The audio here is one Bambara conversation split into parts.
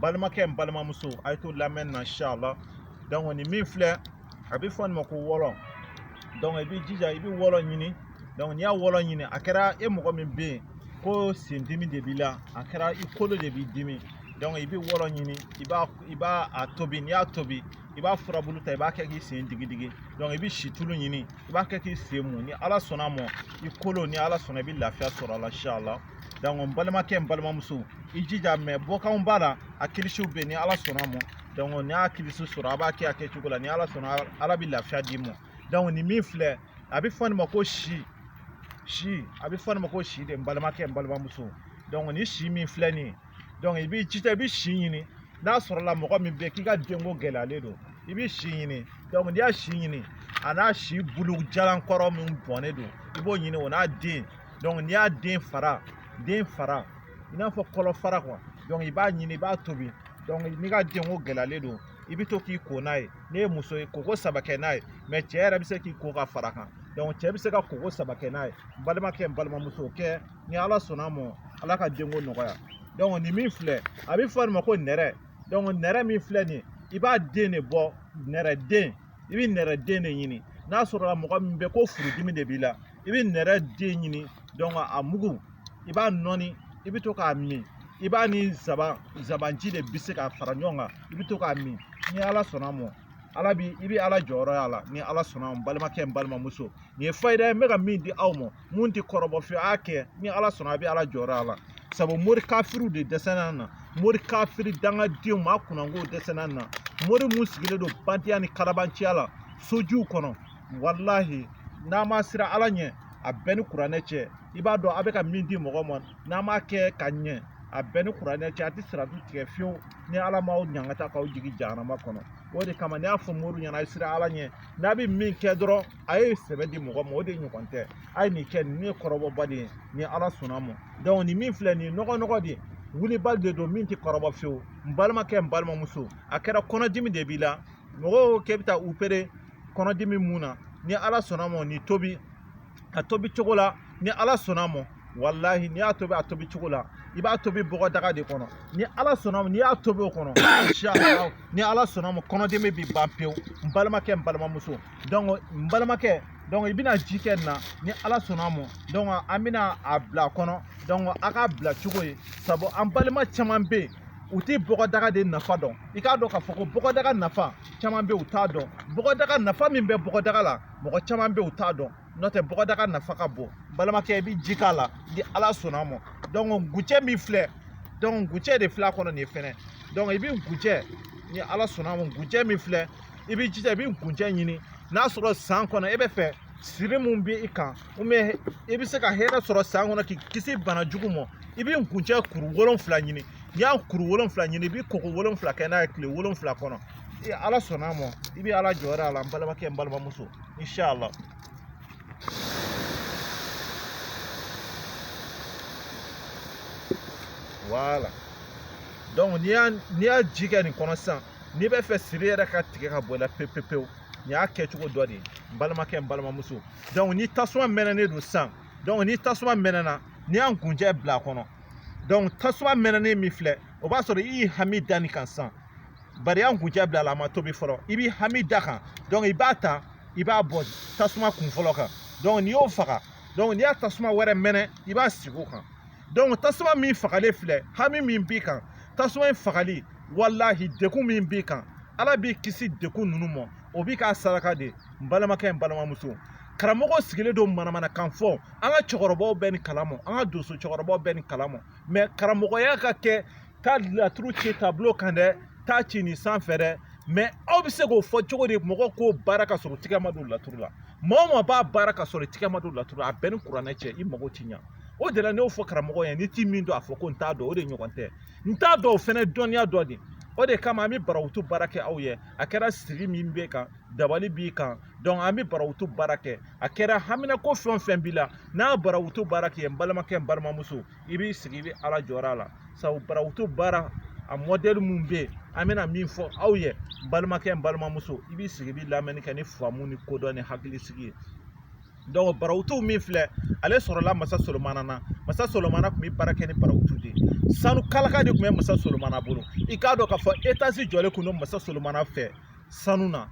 balimakɛ n balimamuso a ye to lamɛn na inshallah donc nin min filɛ a bɛ fɔ nin ma ko wɔlɔ donc i b'i jija i bɛ wɔlɔ ɲini donc n'i y'a wɔlɔ ɲini a kɛra e mɔgɔ min bɛ yen ko sen dimi de b'i la a kɛra i kolo de b'i dimi donc i bɛ wɔlɔ ɲini i b'a i b'a a tobi n'i y'a tobi i b'a furabulu ta i b'a kɛ k'i sen digidigi donc i bɛ situlu ɲini i b'a kɛ k'i sen mun ni ala sɔnna a ma i kolo ni ala sɔnna i bɛ lafiya sɔrɔ a la inshallah donc n balimakɛ n balimamuso i jija mais bɔkanw b'a la a kilisiw bɛ yen ni ala sɔnna a ma donc n'i y'a kilisi sɔrɔ a b'a kɛ a kɛcogo la ni ala sɔnna ala bɛ lafiya d'i ma donc nin min filɛ a bɛ fɔ nin ma ko si si a bɛ fɔ nin ma ko si de n balimakɛ n balimamuso donc nin si min filɛ nin ye donc i b'i jija i bɛ si ɲini n'a sɔrɔla mɔgɔ min bɛ yen k'i ka denko gɛlɛyalen don i bɛ si ɲini donc n'i y'a si ɲini a n'a si bulu jalan kɔrɔ min bɔnnen don i b'o ɲini o n'a den donc n'i y'a den fara den fara i n'a fɔ kɔlɔ fara quoi donc i b'a ɲini i b'a tobi donc n'i ka denko gɛlɛyalen don i bɛ to k'i ko n'a ye n'e ye muso ye koko saba kɛ n'a ye mais cɛ yɛrɛ bɛ se k'i ko ka fara kan donc cɛ bɛ se ka koko saba kɛ n'a ye n balimakɛ n balimamuso kɛ ni ala sɔnna a ma ala ka denko nɔgɔya donc nin min filɛ a bɛ fɔ nin ma ko nɛrɛ donc nɛrɛ min filɛ nin i b'a den de bɔ nɛrɛ den i bɛ nɛrɛ den de ɲini n'a sɔrɔla mɔgɔ min bɛ ko furudimi de b'i la i bɛ nɛrɛ den ɲini donc a mugu i b'a nɔɔni i bɛ to k'a min i b'a ni nsabanji de bisi k'a fara ɲɔgɔn kan i bɛ to k'a min ni ala sɔnna a ma ala bi i bɛ ala jɔyɔrɔ y'a la ni ala sɔnna n balimakɛ n balimamuso nin ye fayida ye n bɛ ka min di aw ma mun tɛ kɔrɔbɔ fiyewu a y'a kɛ ni ala sɔnna a bɛ ala jɔyɔrɔ y'a la sabu mori kafiriw de dɛsɛra na mori kafiri dangadenw maa kunnangow dɛsɛra na mori mun sigilen don bandiya ni kalabanciya la sojiw kɔnɔ walahi n'a ma siran ala ɲɛ a bɛɛ ni kuranɛ cɛ i b'a dɔn a bɛ ka min di mɔgɔ ma n'a m'a kɛ ka ɲɛ a bɛɛ ni kuranɛ cɛ a tɛ siratu tigɛ fiyewu ni ala m'aw ɲangata k'aw jigin jahanama kɔnɔ o de kama ne y'a fɔ mori ɲɛna a ye siran ala ɲɛ n'a bɛ min kɛ dɔrɔn a ye sɛbɛ di mɔgɔ ma o de ɲɔgɔn tɛ a ye nin kɛ nin ye kɔrɔbɔbali ye ni ala sɔnna a ma donc nin min filɛ nin ye nɔgɔnɔgɔ de ye wulibali de don min tɛ kɔrɔbɔ fiyewu n balimakɛ n balimamuso a kɛra kɔnɔdimi de b'i la mɔgɔw k'e bɛ taa opérer kɔnɔdimi mun na ni ala sɔnna ma nin tobi a tobi cogo la ni ala sɔnna ma walahi n'i y'a tobi a tobi cogo la i b'a tobi bɔgɔdaga de kɔnɔ ni ala sɔnna ma n'i y'a tobi o kɔnɔ inshallah ni ala sɔnna ma kɔnɔdimi bɛ ban pewu n balimakɛ n balimamuso donc n balimakɛ donc i bɛna ji kɛ nin na ni ala sɔnna ma donc an bɛna a bila a kɔnɔ donc a k'a bila cogo ye sabu an balima caman bɛ yen u tɛ bɔgɔdaga de nafa dɔn i k'a dɔn k'a fɔ ko bɔgɔdaga nafa caman bɛ u t'a dɔn bɔgɔdaga nafa min bɛ bɔgɔdaga la mɔgɔ caman bɛ u t'a dɔn n'o tɛ bɔgɔdaga nafa ka bon balimakɛ i bɛ ji k'a la ni ala sɔnna a ma donc nkunjɛ min filɛ donc nkunjɛ de filɛ a kɔnɔ nin fɛnɛ donc i bɛ nkunjɛ ni ala sɔnna a ma nkunjɛ min filɛ i bɛ jija i bɛ nkunjɛ ɲini n'a sɔrɔ san kɔnɔ e bɛ fɛ siri mun bɛ i kan ou bien i bɛ se ka hɛrɛ sɔrɔ san kɔnɔ k'i kisi bana jugu ma i bɛ nkunjɛ kuru wolonfila ɲini n'i y'a kuru wolonfila ɲini i bɛ koko wolonfila kɛ n'a ye tile wolonfila kɔnɔ ee ala sɔnna a ma i bɛ ala jɔyɔrɔ y'a la n balimakɛ n balimamuso inshala voilà donc n'i y'a n'i y'a ji kɛ nin kɔnɔ sisan n'i bɛ fɛ siri yɛrɛ ka tigɛ ka bɔ i la pewu nin y'a kɛcogo dɔ de ye n balimakɛ n balimamuso donc ni tasuma mɛnɛnen don sisan ni tasuma mɛnɛna n'i y'a nkunjɛ bila a kɔnɔ tasuma mɛnɛnen min filɛ o b'a sɔrɔ i y'i hami da nin kan sisan bari i y'a nkunjɛ bila a la a ma tobi fɔlɔ i b'i hami da kan i b'a ta i b'a bɔ tasuma kun fɔlɔ kan n'i y'o faga n'i y'a tasuma wɛrɛ mɛnɛ i b'a sigi o kan tasuma min fagalen filɛ hami min b'i kan tasuma in fagali walahi degun min b'i kan ala b'i kisi degun ninnu ma o b'i k'a saraka de n balimakɛ n balimamuso karamɔgɔ sigilen don manamanakan fɔ an ka cɛkɔrɔbaw bɛ nin kalama an ka donso cɛkɔrɔbaw bɛ nin kalama mais karamɔgɔya ka kɛ taa laturu ci tableau kan dɛ taa ci nin sanfɛ dɛ mais aw bɛ se k'o fɔ cogo di mɔgɔ k'o baara ka sɔrɔ tigɛ ma don laturu la maa o maa b'a baara ka sɔrɔ tigɛ ma don laturu la a b'e ni kuranɛ cɛ i mago ti ɲa o de la ne y'o fɔ karamɔgɔ ye n'i ti min dɔn a fɔ ko n t'a dɔn o de ɲɔgɔn tɛ n t'a dɔn o fɛnɛ dɔnniya dɔ de o de kama an bɛ barawutu baara kɛ aw ye a kɛra siri min b'i kan dabali b'i kan donc an bɛ barawutu baara kɛ a kɛra haminako fɛn o fɛn b'i la n'a barawutu baara kɛ n balimakɛ n balimamuso i b'i sigi i bɛ ala jɔyɔrɔ y'a la sabu barawutu baara a mɔdɛli min bɛ yen an bɛna min fɔ aw ye balimakɛ n balimamuso i b'i sigi i bɛ lamɛnni kɛ ni faamu ni kodɔn ni hakilisigi ye donc barawutu min filɛ ale sɔrɔla masa solomana na masa solomana tun bɛ baara kɛ ni barawutu de ye sanu kalaka de tun bɛ masa solomana bolo i k'a dɔn k'a fɔ etasi jɔlen tun don masa solomana fɛ sanu na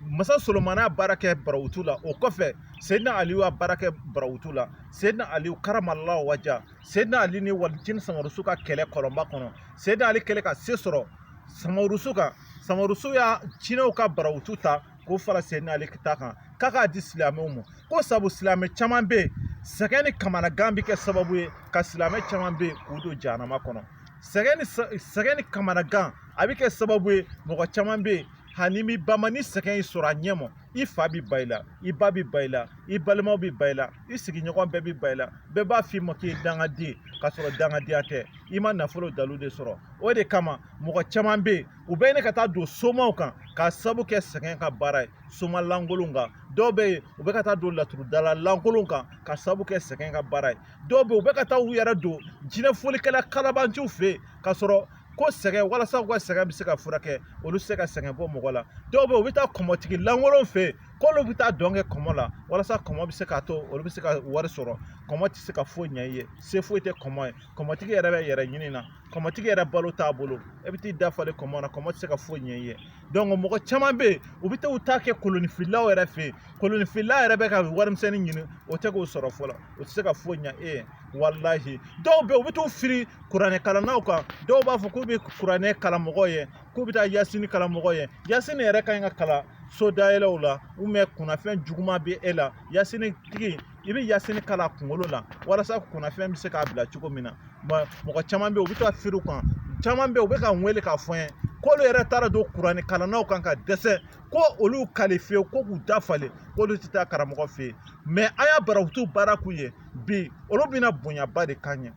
masa solomana baara kɛ barawutu la o kɔfɛ seyidina aliyu y'a baara kɛ barawutu la seyidina aliyu karamala waja seyidina ali ni walijini samarusu ka kɛlɛ kɔlɔnba kɔnɔ seyidina ali kɛlɛ ka se sɔrɔ samarusu kan samarusu y'a jinɛw ka barawutu ta k'o fara seyidina ali ta kan k'a k'a di silamɛw ma ko sabu silamɛ caman bɛ yen sɛgɛn ni kamanagan bɛ kɛ sababu ye ka silamɛ caman bɛ yen k'u don jahanama kɔnɔ sɛgɛn ni kamanagan a bɛ kɛ sababu ye mɔgɔ caman bɛ yen ani bɛ ba ma ni sɛgɛn y'i sɔrɔ a ɲɛ ma i fa bɛ ban i la i ba bɛ ban i la i balimaw bɛ ban i la i sigiɲɔgɔn bɛɛ bɛ ban i la bɛɛ b'a f'i ma k'i ye dangaden ye k'a sɔrɔ dangadenya tɛ i ma nafolo dalu de sɔrɔ o de kama mɔgɔ caman bɛ yen u bɛ ɲini ka taa don somaw kan k'a sabu kɛ sɛgɛn ka baara ye soma lankolon kan dɔw bɛ yen u bɛ ka taa don laturudala lankolon kan k'a sabu kɛ sɛgɛn ka baara ye dɔw bɛ yen u bɛ ka taa u yɛrɛ don jinɛ folikɛla kalabanciw fɛ yen k'a sɔrɔ ko sɛgɛn walasa u ka sɛgɛn bɛ se ka furakɛ olu tɛ se ka sɛgɛn bɔ mɔgɔ la dɔw bɛ yen u bɛ taa kɔmɔtigi lankolon fɛ yen k'olu bɛ taa dɔn kɛ kɔmɔ la walasa kɔmɔ bɛ se k'a to olu bɛ se ka wari sɔrɔ kɔmɔ tɛ se ka foyi ɲɛ i ye se foyi tɛ kɔmɔ ye kɔmɔtigi yɛrɛ bɛ yɛrɛ ɲini na kɔmɔtigi yɛrɛ balo t'a bolo e bɛ t'i dafalen kɔmɔ na kɔmɔ tɛ se ka foyi ɲɛ i ye mɔgɔ caman bɛ yen u bɛ taa u ta kɛ kolonifilaw yɛrɛ fɛ yen kolonifila yɛrɛ bɛ ka warimisɛnnin ɲini o tɛ k'o sɔrɔ fɔlɔ o tɛ se ka foyi ɲɛ e ye walahi dɔw bɛ yen u bɛ t'u firi kuranɛ kalannaw kan dɔw b'a fɔ k'u bɛ kuranɛ kalan mɔgɔw ye k'u bɛ taa yasini kalan mɔgɔw ye yasini yɛrɛ ka ɲi ka kalan so dayɛlɛw la kunnafɛn juguman bɛ e la yasini tigi i bɛ yasini kalan kunkolo la walasa kunnafɛn bɛ se k'a bila cogo min na mɔgɔ caman bɛ yen u bɛ taa firi u kan caman bɛ yen u bɛ ka n wele k'a fɔ n ye k'olu yɛrɛ taara don kuranɛ kalannaw kan ka dɛsɛ ko olu kali fiyewu ko k'u dafalen k'olu tɛ taa karamɔgɔ fɛ yen mɛ an y'a barawutu baara k'u ye bi olu bɛna bonyaba de k'an ye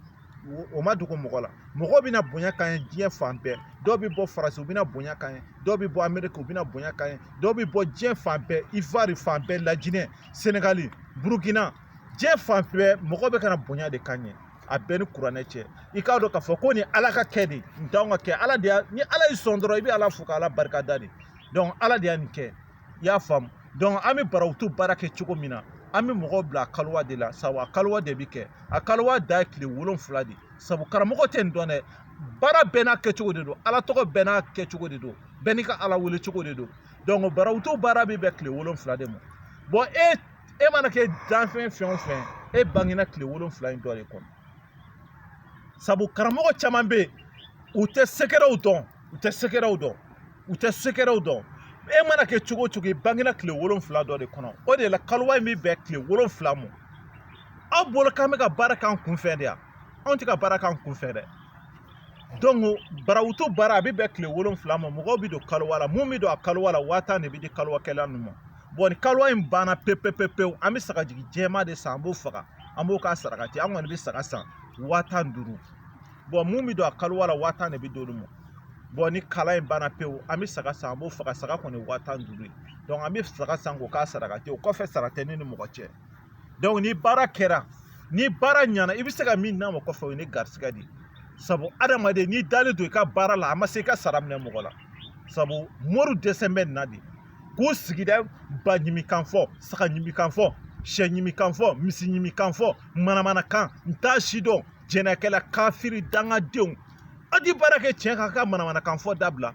o ma dogo mɔgɔ la mɔgɔw bɛna bonya k'an ye diɲɛ fan bɛɛ dɔw bɛ bɔ faransi u bɛna bonya k'an ye dɔw bɛ bɔ ameriki u bɛna bonya k'an ye dɔw bɛ bɔ diɲɛ fan bɛɛ ivoire fan bɛɛ lajinɛ senegali burukina diɲɛ fan bɛɛ mɔgɔw bɛ ka na bonya de k'an ye a bɛɛ ni kuranɛ cɛ i k'a dɔn k'a fɔ ko nin ala ka kɛ de nin t'anw ka kɛ ala de y'a ni ala y'i sɔn dɔrɔn i bɛ ala fo ka ala barika da de donc ala de y'a nin kɛ i y'a faamu donc an bɛ barawutu baara kɛ cogo min na an bɛ mɔgɔw bila a kalowa de la sabu a kalowa de bɛ kɛ a kalowa da ye tile wolonfila de sabu karamɔgɔ tɛ nin dɔn dɛ baara bɛɛ n'a kɛcogo de don ala tɔgɔ bɛɛ n'a kɛcogo de don bɛɛ n'i ka ala wele cogo de don barawutu baara bɛ bɛn kile wolonfila de ma bon e mana kɛ danfɛn fɛn o fɛn e bangena kile wolonfila in dɔ de kɔnɔ sabu karamɔgɔ caman bɛ yen u tɛ sekɛrɛw dɔn u tɛ sekɛrɛw dɔn u tɛ sekɛrɛw dɔn e mana kɛ cogo o cogo i bangena kile wolonfila dɔ de kɔnɔ o de la kalowa in bɛ bɛn kile wolonfila ma aw bolo k'an bɛ ka baara k'an kunfɛ de yan anw tɛ ka baara k'an kunfɛ dɛ barawutu baara a bɛ bɛn kile wolonfila ma mɔgɔw bɛ don kalowa la mun bɛ don a kalowa la waa tan de bɛ di kalowakɛla ninnu ma ni kalowa in banna pewu pewu pewu an bɛ sagajigi jɛman de san an b'o faga an b'o k'a sarakati an kɔni bɛ saga san waa tan ni duuru mun bɛ don a kalowa la waa tan de bɛ d'olu ma ni kalowa in banna pewu an bɛ saga san an b'o faga saga kɔni waa tan ni duuru ye an bɛ saga san k'o k'a sarakati o kɔfɛ sara tɛ ne ni mɔgɔ cɛ ni baara kɛra ni baara ɲana i bɛ se ka min d'a ma kɔfɛ o ye ne garisigɛ de ye sabu adamaden n'i dalen don i ka baara la a ma se i ka sara minɛ mɔgɔ la sabu mori dɛsɛ bɛ nin na de k'u sigida ba ɲimikan fɔ saga ɲimikan fɔ sɛ ɲimikan fɔ misi ɲimikan fɔ manamanakan n t'a si dɔn jɛnɛkɛla kafiri dangadenw a di baara kɛ tiɲɛ kan ka manamanakan fɔ dabila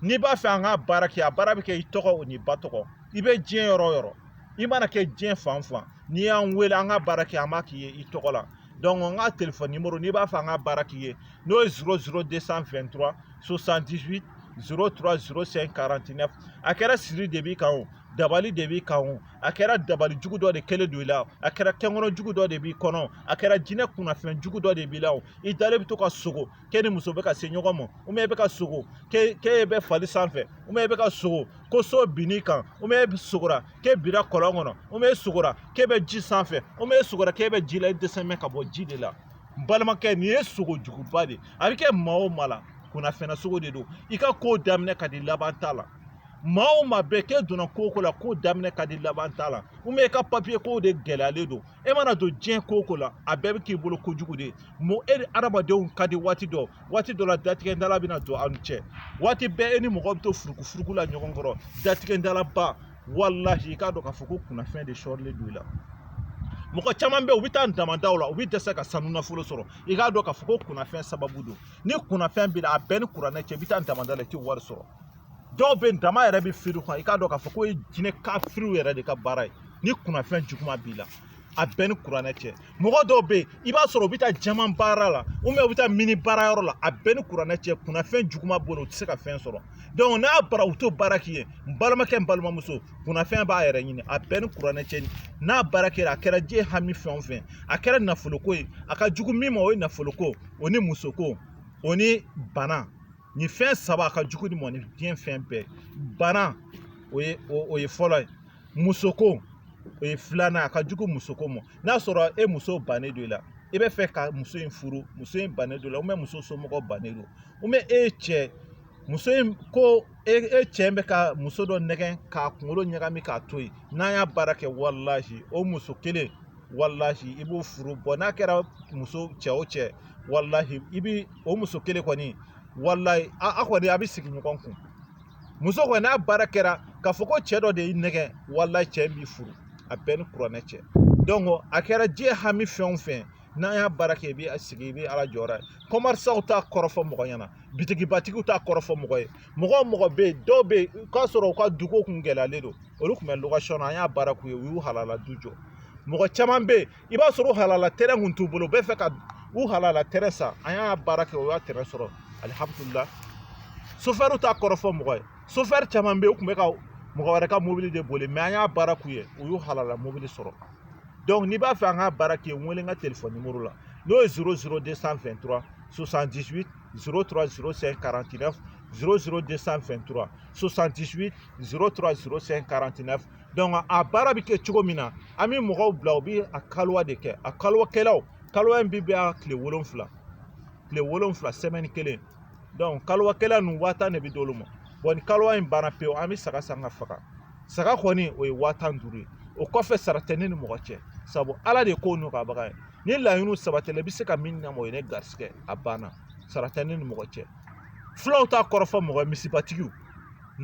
n'i b'a fɛ an ka baara kɛ a baara bɛ kɛ i tɔgɔ o n'i ba tɔgɔ i bɛ diɲɛ yɔrɔ o yɔrɔ i mana kɛ diɲɛ fan fan n'i y'an wele an ka baara kɛ an b'a k'i ye i tɔgɔ la dɔnki an ka telefɔni nimoro n'i b'a fɛ an ka baara k'i ye n'o ye zoro zoro de san fɛn tura sosan disi zoro tura zoro sɛn karantinɛ a kɛra siri de b'i kan o dabali de b'i kan o a kɛra dabali jugu dɔ de kɛlen don i la a kɛra kɛnkɔnɔ jugu dɔ de b'i kɔnɔ a kɛra jinɛ kunnafɛn jugu dɔ de b'i la o i dalen bɛ to ka sogo k'e ni muso bɛ ka se ɲɔgɔn ma ubiyɛn e bɛ ka sogo k'e bɛ fali sanfɛ ubiyɛn e bɛ ka sogo ko so binn'i kan ubiyɛn e sogora k'e bira kɔlɔn kɔnɔ ubiyɛn e sogora k'e bɛ ji sanfɛ ubiyɛn e sogora k'e bɛ ji la i dɛsɛnen ka bɔ ji de la n balimakɛ nin ye sogo juguba de a bɛ kɛ maa o maa la kunnafɛnna sogo de don i ka ko daminɛ ka di laban t'a la maa o maa bɛɛ k'e donna ko o ko la ko daminɛ ka di laban t'a la ubiyɛn i ka papiye kow de gɛlɛyalen don e mana don diɲɛ ko ko la a bɛɛ bɛ k'i bolo kojugu de e ni adamadenw ka di waati dɔ waati dɔ la datigɛndala bɛna don aw ni cɛ waati bɛɛ e ni mɔgɔ bɛ to furukufuruku la ɲɔgɔn kɔrɔ datigɛndalaba walahi i k'a dɔn k'a fɔ ko kunnafɛn de sɔrilen don i la mɔgɔ caman bɛ u bɛ taa damadaw la u bɛ dɛsɛ ka sanu nafolo sɔrɔ i k'a dɔn k'a fɔ ko kunnafɛn sababu don ni kunnafɛn b'i la a bɛ n ni kuranɛ cɛ i bɛ taa damada la i tɛ wari sɔrɔ dɔw bɛ dama yɛrɛ bɛ firi u kan i k'a dɔn k'a fɔ k'o ye jinɛ kafiriw yɛrɛ de ka baara ye ni kunnafɛn juguman b'i la a bɛ n ni kuranɛ cɛ mɔgɔ dɔw bɛ yen i b'a sɔrɔ u bɛ taa jaman baara la u bɛ taa mini baara yɔrɔ la a bɛ n ni kuranɛ cɛ kunnafɛn juguman b'u la u tɛ se ka fɛn sɔrɔ n'a bara u t'o baara k'i ye n balimakɛ n balimamuso kunnafɛn b'a yɛrɛ ɲini a bɛ n ni kuranɛ cɛ n'a baara kɛra a kɛra diɲɛ hami fɛn o fɛn a kɛra nafoloko ye a ka jugu min ma o ye nafoloko o ni musoko o ni bana nin fɛn saba a ka jugu nin mɔ ni diɲɛ fɛn bɛɛ bana o ye fɔlɔ ye musoko o ye filanan a ka jugu musoko mɔ n'a sɔrɔ e muso bannen don i la i b'a fɛ ka muso in furu muso in bannen don i la ubiyɛn muso somɔgɔ bannen don ubiyɛn e cɛ muso in ko e cɛ bɛ ka muso dɔ nɛgɛn k'a kunkolo ɲagami k'a to yen n'an y'a baara kɛ walahi o muso kelen walahi i b'o furu bɔ n'a kɛra muso cɛ o cɛ walahi i bi o muso kelen kɔni walayi a kɔni a bɛ sigi ɲɔgɔn kun muso kɔni n'a baara kɛra k'a fɔ ko cɛ dɔ de y'i nɛgɛn walayi cɛ b'i furu a bɛ n ni kuranɛ cɛ donc a kɛra diɲɛ hami fɛn o fɛn n'an y'a baara kɛ i bɛ sigi i bɛ ala jɔra kɔmarisaw t'a kɔrɔfɔ mɔgɔ ɲɛna bitigibatigiw t'a kɔrɔfɔ mɔgɔ ye mɔgɔ mɔgɔ bɛ yen dɔw bɛ yen k'a sɔrɔ u ka duko kun gɛlɛyalen don olu tun bɛ location na an y'a baara k'u ye u y'u halala du jɔ mɔgɔ caman bɛ yen i b'a sɔrɔ u halala tɛrɛn kun t'u bolo u bɛ fɛ ka u halala tɛrɛn san an y'a baara kɛ u y'a tɛrɛn sɔrɔ alihamudulila sofɛriw t'a kɔrɔ fɔ mɔgɔ ye sofɛri caman bɛ yen u tun bɛ ka mɔgɔ wɛrɛ ka mobili de boli mais an y'a baara k'u ye u y'u halala mobili sɔrɔ donc n'i b'a fɛ an ka baara k'i ye n wele n ka telefɔni nimoro la n'o ye 00223 78 03 05 49 00223 78 03 05 49 a baara bɛ kɛ cogo min na an bɛ mɔgɔw bila u bɛ a kaliwa de kɛ a kaliwakɛlaw kaliwa in bɛ bɛn kile wolonwula semaine kelen kaliwakɛla ninnu waa tan de bɛ d'olu ma ni kaliwa in banna pewu an bɛ saga san ka faga saga kɔni o ye waa tan ni duuru ye o kɔfɛ sara tɛ ne ni mɔgɔ cɛ sabu ala de ye ko nɔgɔyabaga ye ni laɲiniw sabatila i bɛ se ka min ɲɛnabɔ o ye ne garisigɛ a banna sara tɛ ne ni mɔgɔ cɛ fulaw t'a kɔrɔfɔ mɔgɔ ye misibatigiw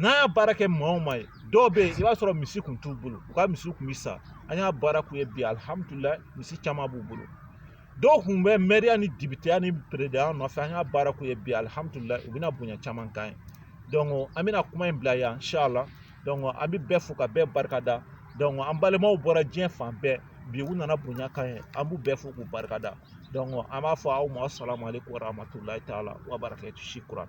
n'an y'a baara kɛ maa o maa ye dɔw bɛ yen i b'a sɔrɔ misi kun t'u bolo u ka misiw kun bɛ sa an y'a baara k'u ye bi alihamudulilayi misi caman b'u bolo dɔw kun bɛ mɛriya ni depiteya ni perezidanya nɔfɛ an y'a baara k'u ye bi alihamudulilayi u bɛna bonya caman k'an ye an bɛna kuma in bila yan inshallah an bɛ bɛɛ fo ka bɛɛ barika da an balimaw bɔra diɲɛ fan bɛɛ bi u nana bonya k'an ye an b'u bɛɛ fo k'u barika da an b'a fɔ aw ma salamu alekum warahmatulayi taala wa barakatuh shukran